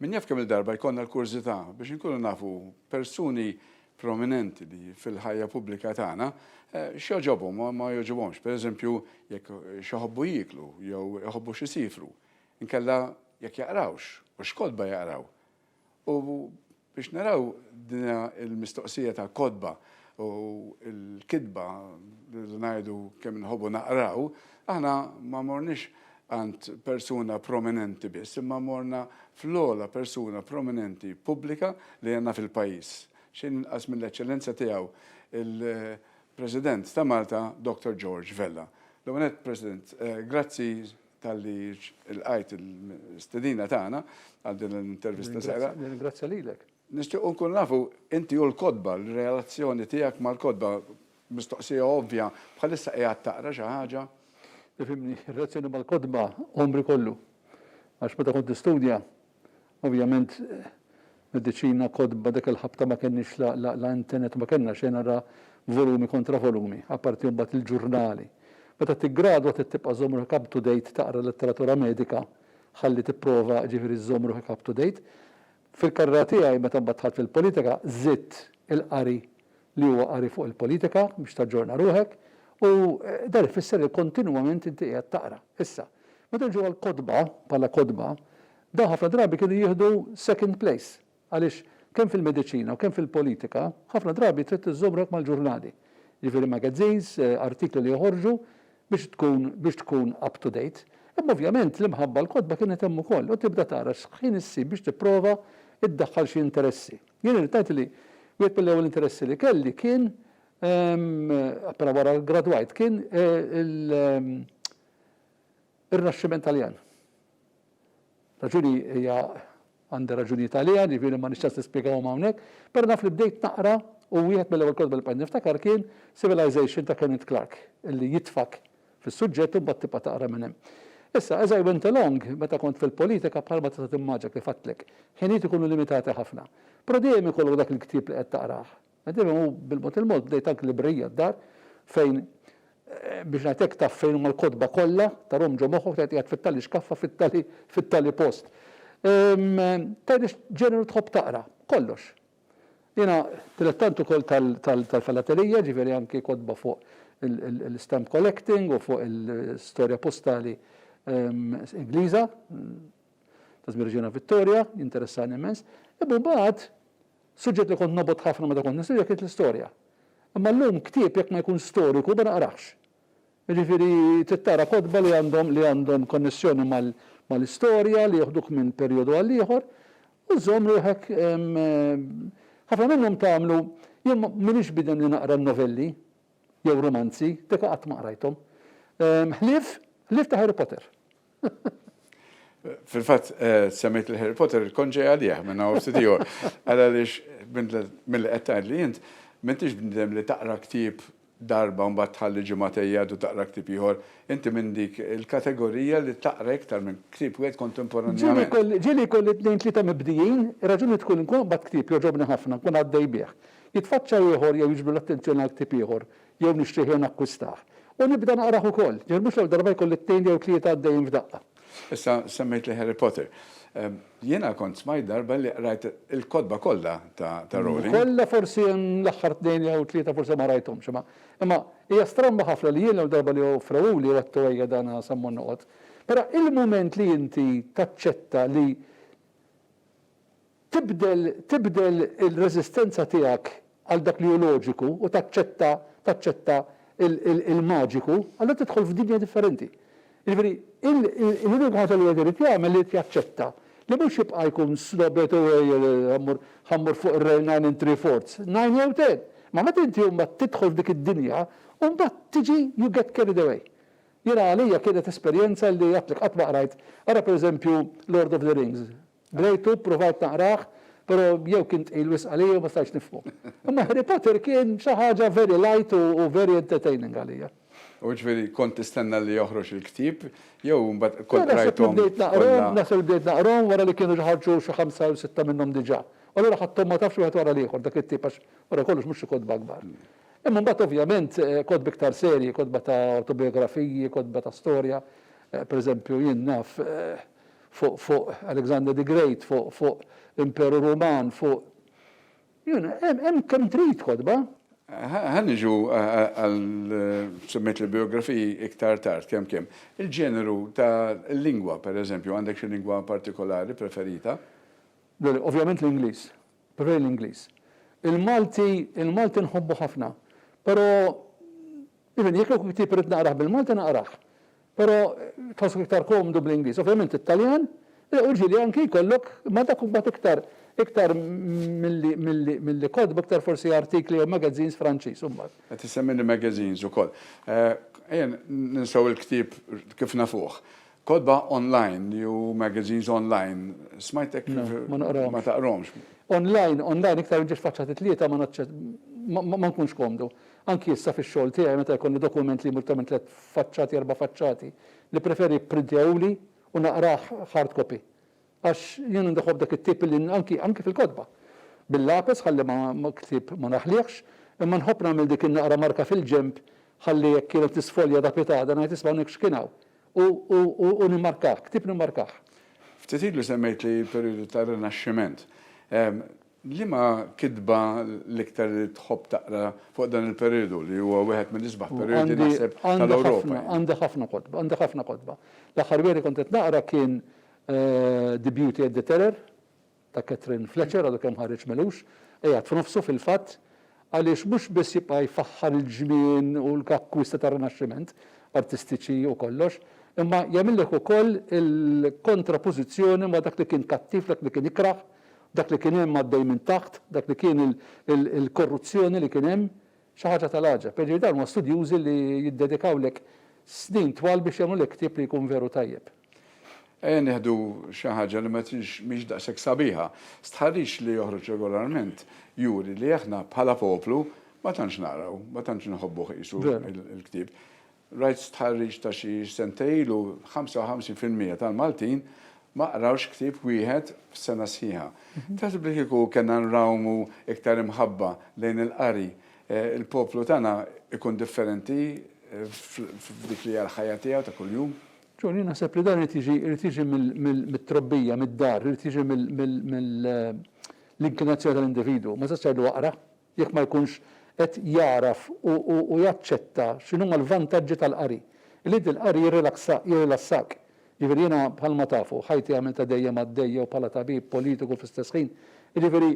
Min jaf kemm-il darba jkollna l-kurżità biex inkunu nafu persuni prominenti li fil-ħajja pubblika tagħna x'jogħġobhom u ma jogħġobhomx, pereżempju jekk x'jħobbu jieklu jew iħobbu x'isifru, inkella jekk jaqrawx u x'kotba jaqraw u Biex naraw dina l-mistoqsija ta' kotba u l-kitba rridu ngħidu kemm inħobbu naqraw, aħna ma morniex għand persuna prominenti biss imma morna fl-ogħla persuna prominenti pubblika li għandna fil-pajjiż, xejn inqas mill-Eċċellenza Tiegħu l-President ta' Malta Dr. George Vella. L-ewwel nett, President, grazzi. talli lqajt l-istedina tagħna għal din l-intervista l-sejra. Nirringrazzja lilek. Nixtiequ nkun nafu inti u l-kotba, l-relazzjoni tiegħek mal-kotba, mistoqsija ovvja, bħalissa qiegħed taqra xi ħaġa? Tifhimni, ir-relazzjoni mal-kotba għomri kollu. Għax meta kont nistudja, Ovvjament mediċina, kotba, dak il-ħabta ma kenniex la internet ma kellna xejn ara volumi kontra volumi, apparti mbagħad il-ġurnali. Meta tiggradwa trid tibqa' żżomm ruħek up to date taqra letteratura medika ħalli tipprova ġifieri żżomm ruħek up to date. Fil-karriera tiegħi meta mbagħad dħalt fil-politika żidt il-qari li huwa qari fuq il-politika biex taġġorna ruħek u dan ifisser li kontinwament inti qiegħed taqra. Issa, meta niġu għall-kotba bħala kotba, Dawn ħafna drabi kienu jieħdu second place għaliex kemm fil-mediċina u kemm fil-politika ħafna drabi trid iżżomm ruħek mal-ġurnali, jiġifieri magazines, artikli li joħorġu biex tkun biex tkun up to date. Imma ovvjament l-imħabba għall-kotba kienet hemm ukoll u tibda tara x'ħin issib biex tipprova iddaħħal xi interessi. Jien irrid ngħid li wieħed mill-ewwel interessi li kelli kien appena wara gradwajt kien il Ir-Rinaxximent Taljan. Raġuni hija għandi raġunijiet għaliha, ġifieri ma għandix ċans nispjegahom hawnhekk, però naf li bdejt naqra u wieħed mill-ewwel kotba li bqajt niftakar kien Civilization ta' Kenneth Clark li jitfgħek fis-suġġett u mbagħad tibqa' taqra minn hemm. Issa, as I went along, meta kont fil-politika bħalma tista' timmaġina kif għedtlek, ħinijiet ikunu limitati ħafna. Però dejjem ikollok dak il-ktieb li qed taqrah. Nagħtilhom u bil-mod il-mod bdejt anki librerija d-dar fejn biex ngħid hekk taf fejn huma l-kotba kollha, tarahom ġo moħħok tgħid qiegħed fit-tali xkaffa fit-tali fit-tali post. Tgħidli x'ġeneru tħobb taqra? Kollox. Jiena dilettant ukoll tal-filatelija, jiġifieri anki kotba fuq il-stamp collecting u fuq il-storja postali Ingliża ta' żmien Reġina Vittorja, jinteressani immens. Imma mbagħad Suġġett li kont nobgħod ħafna meta kont nistudja kienet l-istorja. Imma llum ktieb jekk ma jkunx storiku ma naqrahx. Jiġifieri trid taqra kotba li għandhom li għandhom konnessjoni mal-istorja, li joħduk minn perjodu għal ieħor u żżomm ruħek Ħafna minnhom tagħmlu Jien m'iniex bniedem li naqra n-novelli jew rumanzi, deka qatt ma qrajthom. Ħlief ħlief ta' Harry Potter. Fil-fatt, eh, semmejt il-Harry Potter il-konġej għalih minn hawn ftit ieħor. Għal għaliex mill-li qed tgħidli int, m'intix bniedem li taqra ktieb darba u mbagħad tħalli ġimgħatej jgħaddu taqra ktieb ieħor. Inti minn dik il-kategorija li taqra iktar minn ktieb wieħed kontemporanjament. Ġieli jkolli tnejn tlieta mibdijin, ir-raġuni tkun li nkun qabad ktieb jogħġobni ħafna, nkun għaddej bih. Jitfaċċa ieħor jew jiġbdu l-attenzjoni għal ktieb ieħor. jew nixtrih jew nakkwistah, u nibda naqrah ukoll, ġifieri mhux l-ewwel darba jkolli t-tnejn jew tlieta għaddejjin f'daqqa. Issa semmejtli Harry Potter. Jiena kont smajt darba li qrajt il-kotba kollha ta' Rowling. Kollha forsi hemm l-aħħar tnejn jew tlieta forsi ma rajthomx, imma imma hija stramba ħafna li jien l-ewwel darba li offrewuli għedtu ejja dan sa mmur noqgħod. Però il-mument li inti taċċetta li. Tibdel, tibdel il-reżistenza tiegħek għal dak li hu loġiku u taċċetta, taċċetta il-maġiku, allura tidħol f'dinja differenti. Jiġifieri, l-unika ħaġa li wieħed irid jagħmel irid jaċċetta li mhux jibqa' jkun snob irid u ejja mmur, ħa mmur fuq ir-rail nine in three fourths, nine jew ten. Imma meta inti mbagħad tidħol f'dik id-dinja, mbagħad tiġi you get carried away. Jiena għalija kienet esperjenza li għidtlek qatt ma qrajt, ara pereżempju Lord of the Rings, Qrejtu, pruvajt naqrah, pero jew kien tqil wisq għalija jew ma stajtx nifhmu. Imma Harry Potter kien xi ħaġa very light u very entertaining għalija. U ġifieri kont tistenna li joħroġ il-ktieb jew imbagħad kont qrajthom kollha? Naħseb li bdejt naqrahom, naħseb li bdejt naqrahom wara li kienu ġa ħarġu xi ħamsa jew sitta minnhom diġà. U allura ħadthom ma tafx wieħed wara l-ieħor dak it-tieb għax wara kollox mhux xi kotba kbar. Imma mbagħad ovvjament kotbi iktar serji, kotba ta' awtobijografiji, kotba ta' storja, pereżempju jien naf, fuq fuq Alexander the Great, fuq fuq l-Imperu Ruman, fuq you know, hemm kemm trid kotba. Ħa niġu għal semmejt il-biografiji iktar tard kemm kemm. Il-ġeneru ta' lingwa, per eżempju, għandek xi lingwa partikolari preferita? Ovvjament l-Ingliż, preferi l-Ingliż. Il-Malti, il-Malti nħobbu ħafna, però Even jekk kieku ktieb irrid naqrah bil-Malti naqrah. Però tħossok iktar komdu bl-Ingliż. Ovvjament it-Taljan, u ġieli anki jkollok, imma dak imbagħad iktar iktar milli milli milli kotba iktar forsi artikli jew magazines Franċiż imbagħad. Qed issemmini magazines ukoll. Ejja ninsew il-ktieb kif nafuh. Kotba online li hu magazines online, smajtek ma taqrahomx. Online, online iktar inġiex faċċati tlieta ma nkunx komdu. Anki issa fix-xogħol tiegħi meta jkolli dokument li jmur iktar minn tliet faċċati, erba' faċċati, nippreferi jipprintjahuli u naqrah hard copy. Għax jien għandi ħobb dak it-tip illi anki, anki fil-kotba. Bil-lapes ħalli ma, ktieb ma naħliehx, imma nħobb nagħmel dik in-naqra marka fil-ġenb ħalli jekk jien qed nisfolja da pietà da ngħid isma' hawnhekk x'kien hawn. U, u, u, u nimmarkah, ktieb nimmarkah. Ftit ilu semmejt li l-perjodu tar-Rinaxximent. Liema kitba l-iktar tħobb taqra fuq dan il-perjodu li huwa wieħed mill-isbaħ perjodi naħseb tal-Ewropa? Għandi ħafna kotba, għandi ħafna kotba. L-aħħar wieħed li kont qed naqra kien The Beauty and the Terror ta' Katherine Fletcher, għadu kemm ħareġ m'għelux, qiegħed f'nofsu fil-fatt. għaliex mhux biss jibqa' jfaħħar il-ġnien u l-akkwista tar-Rinaxximent, artistiċi u kollox, imma jagħmillek ukoll il-kontrapożizzjoni ma' dak li kien kattiv, dak li kien ikrah, dak li kien hemm għaddej minn taħt, dak li kien il-korruzzjoni li kien hemm. Xi ħaġa tal-għaġeb. Jiġifieri dawn huma studjużi li jiddedikawlek snin twal biex jagħmlulek ktieb li jkun veru tajjeb. Ejja nieħdu xi ħaġa li ma tix mhix daqshekk sabiħa. Stħarriġ li joħroġ regolarment juri li aħna bħala poplu ma tantx naqraw, ma tantx inħobbu qisu l-ktieb. Rajt stħarriġ ta' xi sentej ilu 55 fil-mija tal-Maltin ma qrawx ktieb wieħed f'sena sħiħa. Taħseb li kieku kellna nrawmu iktar imħabba lejn il-qari, il-poplu tagħna jkun differenti f'dik li hija l-ħajja tiegħu ta' kuljum? John, jien naħseb li dan irid jiġi irid jiġi mit-trobbija, mid-dar, irid jiġi mill-inklinazzjoni tal-individwu. Ma tistax tgħidlu aqra jekk ma jkunx qed jagħraf u jaċċetta x'inhuma l-vantaġġi tal-qari. Li inti l-qari jirrilassak. Jiġifieri jiena bħalma tafu, ħajti għamiltha dejjem għaddejja u bħala tabib, politiku fl-istess ħin. Jiġifieri,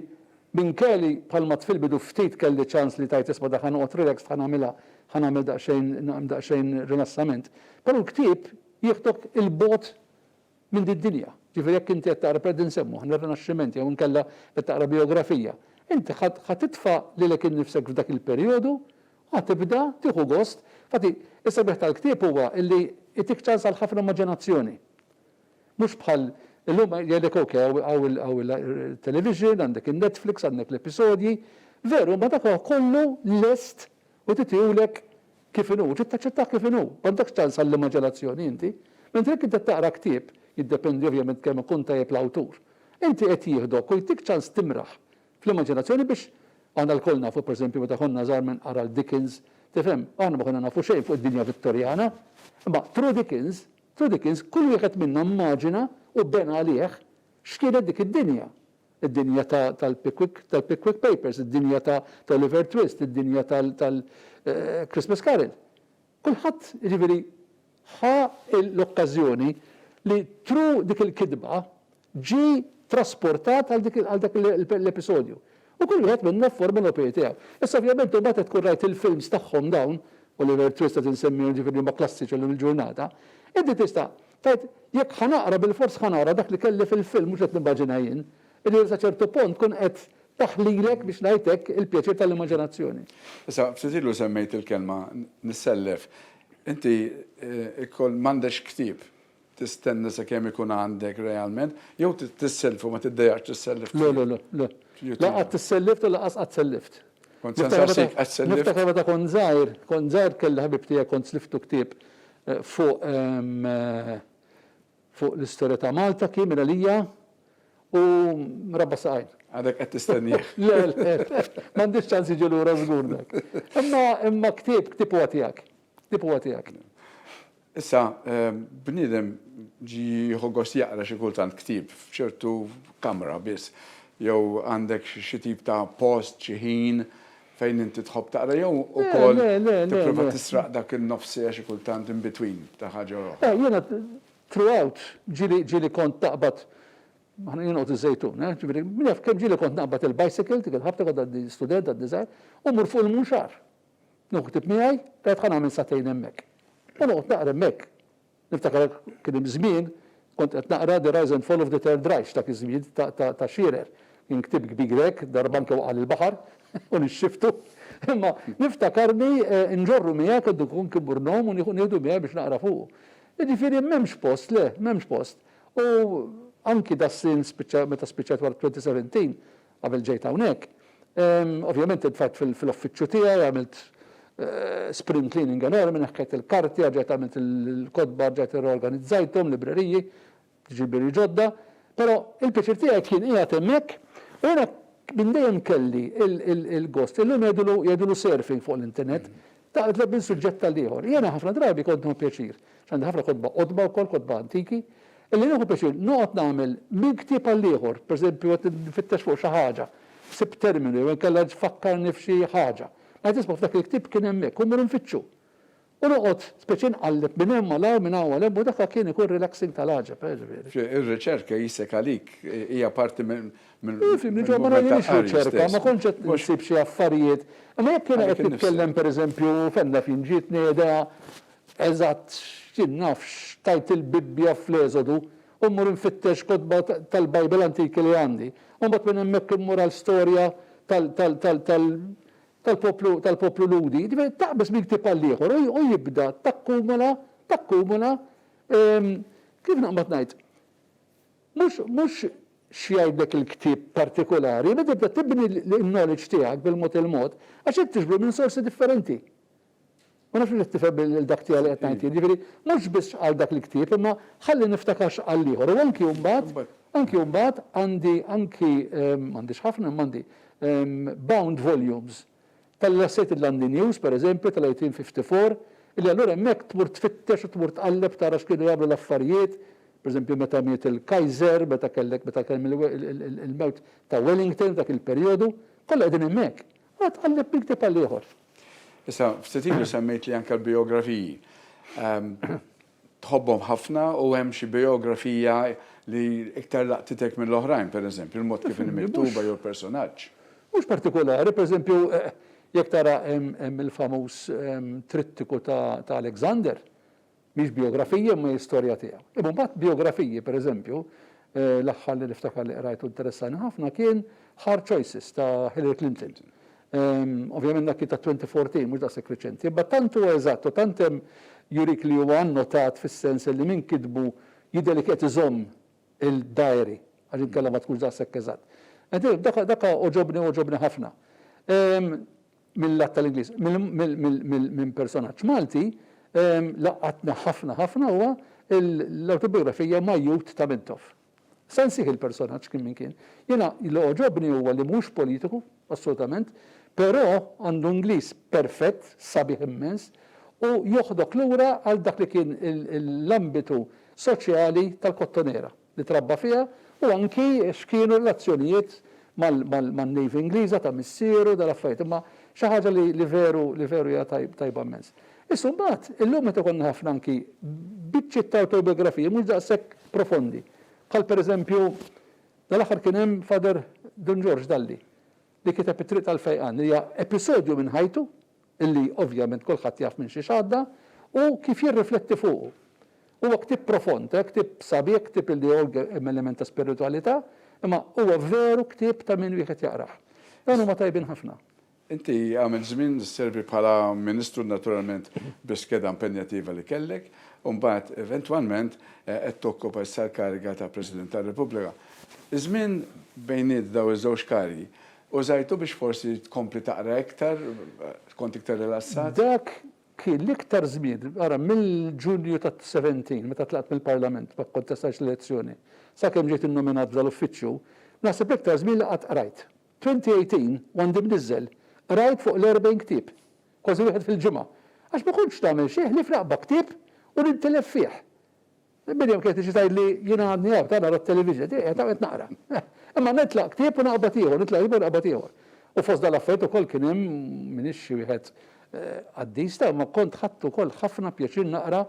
Minkeli, bħalma t fil-bidu ftit kelli ċans li tgħid isma' dak ħa noqgħod relaxed ħa nagħmilha, ħa nagħmel daqsxejn daqsxejn rilassament. Però l-ktieb jieħdok 'il bogħod minn din dinja. Ġifieri jekk inti qed taqra per din nsemmu aħna r-Rinaxximent jew inkella qed taqra bijografija, inti ħa ħa titfa' lilek innifsek f'dak il-perjodu u ħa tibda tieħu gost. Infatti, is-sabiħ tal-ktieb huwa illi jtik ċans għal ħafna immaġinazzjoni. Mhux bħal illum jgħidlek ok hawn il-television, għandek in-Netflix, għandek l-episodji. Veru, imma dak huwa kollu lest u titiehulek kif inhu, trid taċċettah kif inhu, m'għandekx ċans għall-immaġinazzjoni inti. Mentri jekk inti qed taqra ktieb, jiddependi ovvjament kemm ikun tajjeb l-awtur, inti qed jieħdok u jtik ċans timraħ fl-immaġinazzjoni biex Aħna lkoll nafu pereżempju meta konna żgħar min qara 'l Dickens, tifhem, aħna ma konna nafu xejn fuq id-dinja Vittorjana, imma through Dickens F'Three Dickens kull wieħed minna mmaġina u bena għalih x'kienet dik id-dinja. Id-dinja ta' tal-Pickwick tal-Pickwick Papers, id-dinja ta' t'Oliver Twist, id-dinja tal tal Christmas Carol. Kulħadd, jiġifieri, ħa l-okkażjoni li through dik il-kitba ġie trasportat għal dik għal dak l-episodju. U kull wieħed minnha fforma l opie tiegħu. Issa ovvjament imbagħad qed tkun rajt il-films tagħhom dawn, Oliver Twist qed insemmihom ġifieri huma klassiċi llum il-ġurnata, inti tista' tgħid jekk ħa naqra bilfors ħa nara dak li kelli fil-film mhux qed nimmaġina jien. Jiġifieri sa ċertu punt tkun qed taħlilek biex ngħid hekk il-pjaċir tal-immaġinazzjoni. Issa ftit ilu semmejt il-kelma nissellef. Inti ikoll m'għandekx ktieb Tistenna sakemm ikun għandek realment, jew tissellef u ma tiddejax tissellef Le, le, le, le. La qatt issellift u lanqas qatt sellift. Kont se nsaqsik, qatt sellift? Niftakar meta kont żgħir, kont żgħir kelli ħabib tiegħi kont sliftu ktieb fuq fuq l-istorja ta' Malta kien minn għalija u rabba' saqajn. Għadek qed tistennieh. Le, le, m'għandux ċans jiġi lura żgur dak. Imma imma ktieb, ktieb huwa tiegħek. Ktib huwa tiegħek. Issa, bniedem jieħu gost jaqra xi kultant ktieb f'ċertu kamra biss, jew għandek xi tip ta' post, xi ħin fejn inti tħobb taqra jew ukoll tipprova tisraq dak in-nofs siegħa xi kultant in between ta' ħaġa u oħra? Jiena throughout ġieli kont naqbad, aħna jien noqgħod iż-Żejtun, ġifieri min jaf kemm ġieli kont naqbad il-bicycle, dik il-ħabta kont għadni student għadni żgħir, u mmur fuq il-Munxar. Nieħu ktieb miegħi, tajjeb ħa nagħmel sagħtejn hemmhekk. U noqgħod naqra hemmhekk. Niftakar kien hemm żmien kont qed naqra The Rise and Fall of the Third Reich dak iż-żmien ta' Shearer. Kien ktieb kbir hekk, darba anke waqa' l-baħar u nixxiftu. Imma niftakarni nġorru miegħi kont inkun kibur nom u nieħu nieħdu miegħi biex naqra fuqu. Jiġifieri m'hemmx post, le, m'hemmx post. U anki das-snin spiċċa meta spiċċajt wara 2017, Qabel ġejt hawnhekk, ovvjament intfajt fil-uffiċċju tiegħi, għamilt spring cleaning enormi, neħħejt il-karti, erġajt għamilt il-kotba, erġajt irreorganizzajthom, libreriji, ġilbieri ġodda. Però il-pjaċir tiegħi kien qiegħed hemmhekk u jiena minn dejjem kelli l-gost. Illum jgħidulu surfing fuq l-internet, Taqleb minn suġġett għal ieħor. Jiena ħafna drabi kont nieħu pjaċir, x'għandi ħafna kotba qodma wkoll, kotba antiki, illi nieħu pjaċir noqgħod nagħmel minn ktieb għal ieħor, pereżempju qed nfittex fuq xi ħaġa, sibt terminu jew inkella tfakkarni f'xi ħaġa. Meta tisma' f'dak il-ktieb kien hemmhekk u mmur nfittxu. U noqgħod speċi nqalleb minn hemm għal hawn, minn hawn għal hemm u dak kien ikun relaxing tal-għaġeb, eh, ġifieri. Ir-riċerka jissek għalik, hija parti Fim, li ġo ma nagħmilx riċerka, ma kontx qed insib xi affarijiet. Imma jekk jiena qed nitkellem pereżempju, fem naf jien, ġietni idea eżatt x'jien naf x'tgħid il-Bibbja fl-Eżodu u mmur infittex kotba tal-Bible antiki li għandi. U mbagħad minn hemmhekk immur għal storja tal-poplu tal-poplu Lhudi. Jiġifieri taqbeż minn ktieb għal ieħor u jibda takkumula takkumula kif naqbad ngħid? Mhux, mhux x'jgħidlek il-ktieb partikulari, imma tibda tibni l-knowledge tiegħek bil-mod il-mod, għax qed tiġbru minn sorsi differenti. Ma nafx hux qed tifhem lil dak tiegħi li qed ngħid jien. Jiġifieri, mhux biss x'qal dak il-ktieb, imma ħalli niftakar x'qal l-ieħor. U anki mbagħad, anki mbagħad għandi anki, m'għandix ħafna, imma għandi, bound volumes. Tella' s-sit il-London News, per eżempju, tal-1854, illi allura hemmhekk tmur tfittex u tmur tqalleb tara x'kienu jagħmlu l-affarijiet, per eżempju meta miet il-Kaiser, meta kellek meta kien hemm il-mewt ta' Wellington f'dak il-perjodu, kollha qegħdin hemmhekk. Allura tqalleb minn ktieb għal ieħor. Issa, ftit ilu semmejt li anke l-bijografiji. tħobbhom ħafna u hemm xi bijografija li iktar laqtitek mill-oħrajn, pereżempju, il-mod kif inhi miktuba jew il-personaġġ? Mhux partikolari, pereżempju, jekk tara hemm il-famuż Trittiku ta' Alexander, mhix bijografija imma hi storja tiegħu. Imma mbagħad bijografiji, pereżempju, l-aħħar li niftakar li qrajt u interessani ħafna kien Hard Choices ta' Hillary Clinton. Ovvjament dak kien tat-2014, mhux daqshekk reċenti. Imma tant huwa eżatt u tant hemm jurik li huwa annotat fis-sens li min kitbu jidher li kien qed iżomm il-diary għax inkella ma tkunx daqshekk eżatt. Dak dak għoġobni għoġobni ħafna. Mil-lat tal-Ingliż. Minn personaġġ Malti laqatni ħafna ħafna huwa l-awtobiografija Majjut ta' Mintoff. Se nsih il-personaġġ kien min kien. Jiena li għoġobni huwa li mhux politiku, assolutament, però għandu Ingliż perfett, sabiħ immens, u joħdok lura għal dak li kien l-ambitu soċjali tal-Kottonera li trabba fiha u anki x'kienu r-relazzjonijiet man-Navy Ingliża ta' missieru, dal-affarijiet. Imma xi ħaġa li veru, li veru hija tajba immens. Issa mbagħad, illum meta jkollna ħafna anki biċċiet ta' awtobjografiji mhux daqshekk profondi, bħal pereżempju dal-aħħar kien hemm Father Dun Ġorġ Dalli li kiteb It-Triq tal-Fejqan li hija episodju minn ħajtu li ovvjament kulħadd jaf minn xiex għadda u kif jirrifletti fuqu. Huwa ktieb profond, ktieb sabiħ, ktieb li hemm element ta' spiritwalità, imma huwa veru ktieb ta' min wieħed jaqrah. Dawn huma tajbin ħafna. Inti għamilt żmien sservi bħala Ministru naturalment bis-skeda impenjattiva li kellek u mbagħad eventwalment qed tokkopa issa l-kariga ta' President tar-Repubblika. Iż-żmien bejniet dawn iż-żewġ karigi użajtu biex forsi tkompli taqra iktar, kont iktar rilassat? Dak kien l-iktar żmien, ara, mill-Ġunju tat-70 meta tlaqt mill-Parlament, ma kkontestajtx l-elezzjoni, sakemm ġejt innominat f'dal-uffiċċju, naħseb l-iktar żmien li qatt qrajt. 2018 u għandi mniżżel, qrajt fuq l-erbgħin ktieb, kważi wieħed fil-ġimgħa, għax ma kontx nagħmel xejn ħlief naqba' ktieb u nintilef fih. Miriam kienet tiġi tgħidli jiena għadni hawn, ta' nara t-television, qed qiegħed hawn qed naqra. Imma nitlaq ktieb u naqbad ieħor, nitlaq ieħor u naqbad ieħor. U fost dal-affarijiet ukoll kien hemm, m'iniex xi wieħed qaddis, ta' imma kont ħadt ukoll ħafna pjaċir naqra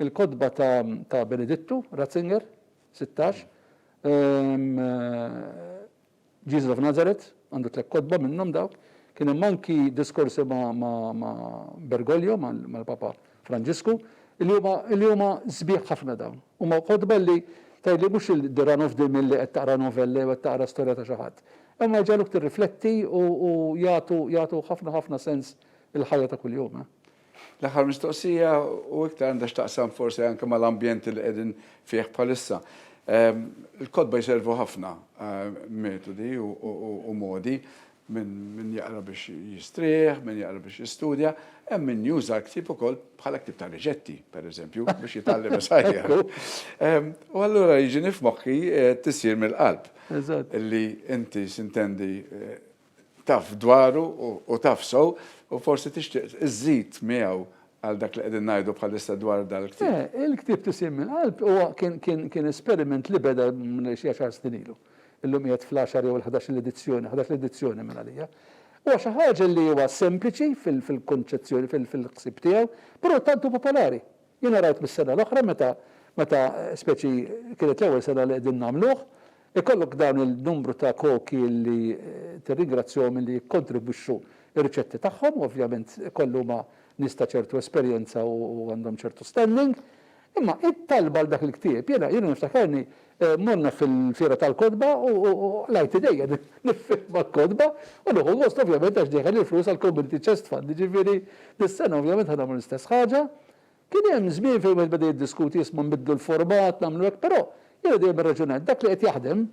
l-kotba ta' ta' Benedittu Ratzinger, sittax, Jesus of Nazareth, għandu tliet kotba minnhom dawk. Kien hemm anki diskorsi ma' Bergoglio, mal-Papa Franġisku, li huma sbieħ ħafna dawn. Huma kotba li tgħidli mhux il-the run of the mill li qed taqra novella jew qed taqra storja ta' xi ħadd. Imma jġagħluk tirrifletti u jagħtu ħafna ħafna sens il-ħajja ta' kuljum. L-aħħar mistoqsija u iktar għandha x'taqsam forsi anke mal-ambjent li qegħdin fih bħalissa. Il-kotba jservu ħafna metodi u modi min jaqra biex jistrieħ, min jaqra biex jistudja, hemm min juża l-ktieb ukoll bħala ktieb ta' riċetti, pereżempju, biex jitgħallem isajjar. U allura jiġini f'moħħi t-tisjir mill-qalb li inti x'intendi taf dwaru u taf sew u forsi tixtieq iżżid miegħu għal dak li qegħdin ngħidu bħalissa dwar dal-ktieb. Le, il-ktieb Tisien mill-Qalb huwa kien esperiment li beda xi għaxar snin ilu. Illum qiegħed fl-għaxar jew il-ħdax-il edizzjoni, ħdax-il edizzjoni minn għalija. Huwa xi ħaġa li huwa sempliċi fil-kunċezzjoni, fil-ħsieb tiegħu, però tant hu popolari. Jiena rajt mis-sena l-oħra meta meta speċi kienet l-ewwel sena li qegħdin nagħmluh, ikollok dawn il-numru ta' koki li tirringrazzjahom illi jikkontribwixxu r-riċetti tagħhom u ovvjament ikoll huma nies ta' ċertu esperjenza u għandhom ċertu standing. Imma it-talba għal dak il-ktieb jiena jiena niftakarni Morna fil-Fiera tal-Kotba u qlajt idejja niffirma l-kotba u nieħu gost ovvjament għax dejħel il-flus għall-Community Chest Fund, jiġifieri dis-sena ovvjament ħa nagħmlu l-istess ħaġa. Kien hemm żmien fejn wieħed beda jiddiskuti isma' nbiddlu l-format, nagħmlu hekk, però jiena dejjem irraġunajt dak li qed jaħdem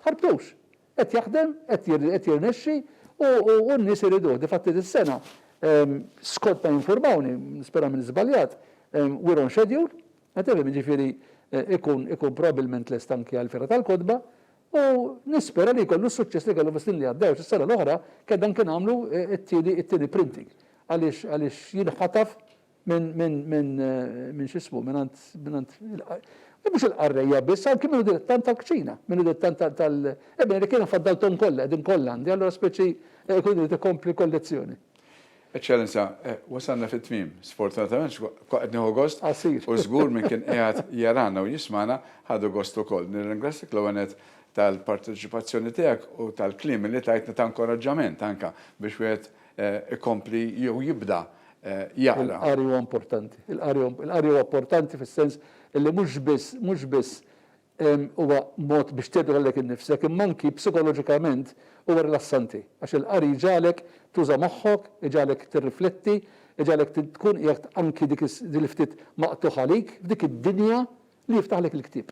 tħarbtux. Qed jaħdem, qed jirnexxi u n-nies iriduh. Difatti dis-sena, skont ma jinfurmawni, nispera m'inix żbaljat, we're on schedule. Qed nifhem, jiġifieri jkun ikun probabbilment lest anki għall-Fiera tal-Kotba u nispera li jkollu s-suċċess li kellu fis-snin li għaddew għax is-sena l-oħra kedna anki nagħmlu t-tieni t-tieni printing għaliex għaliex jinħataf minn minn minn minn x'ismu mingħand mingħand u mhux il-qarrejja biss anki minnu dilettant tal-kċina, minnu dilettant tal tal ebbene li kien infaddalthom kollha qegħdin kollha għandi allura speċi jkun irid ikompli kollezzjoni. Eċċellenza, wasalna fit-tmiem. Sfortunatament kwa qed nieħu gost. Qasir. U żgur min kien qiegħed jarana u jismagħna ħadu gost ukoll. Nirringrazzjak l-ewwel nett tal-parteċipazzjoni tiegħek u tal-kliem li tajtna ta' inkoraġġament anke biex wieħed ikompli jew jibda jaqra. Il-qari huwa importanti. Il-qari huwa importanti fis-sens li mhux biss, mhux biss huwa mod biex tgħebbed għalhekk innifsek imma anki psikoloġikament huwa rilassanti għax il-qari jġagħlek tuża' moħħok, iġagħlek tirrifletti, iġagħlek tkun qiegħed anki dik din il-ftit maqtugħ għalik f'dik id-dinja li jiftaħlek il-ktieb.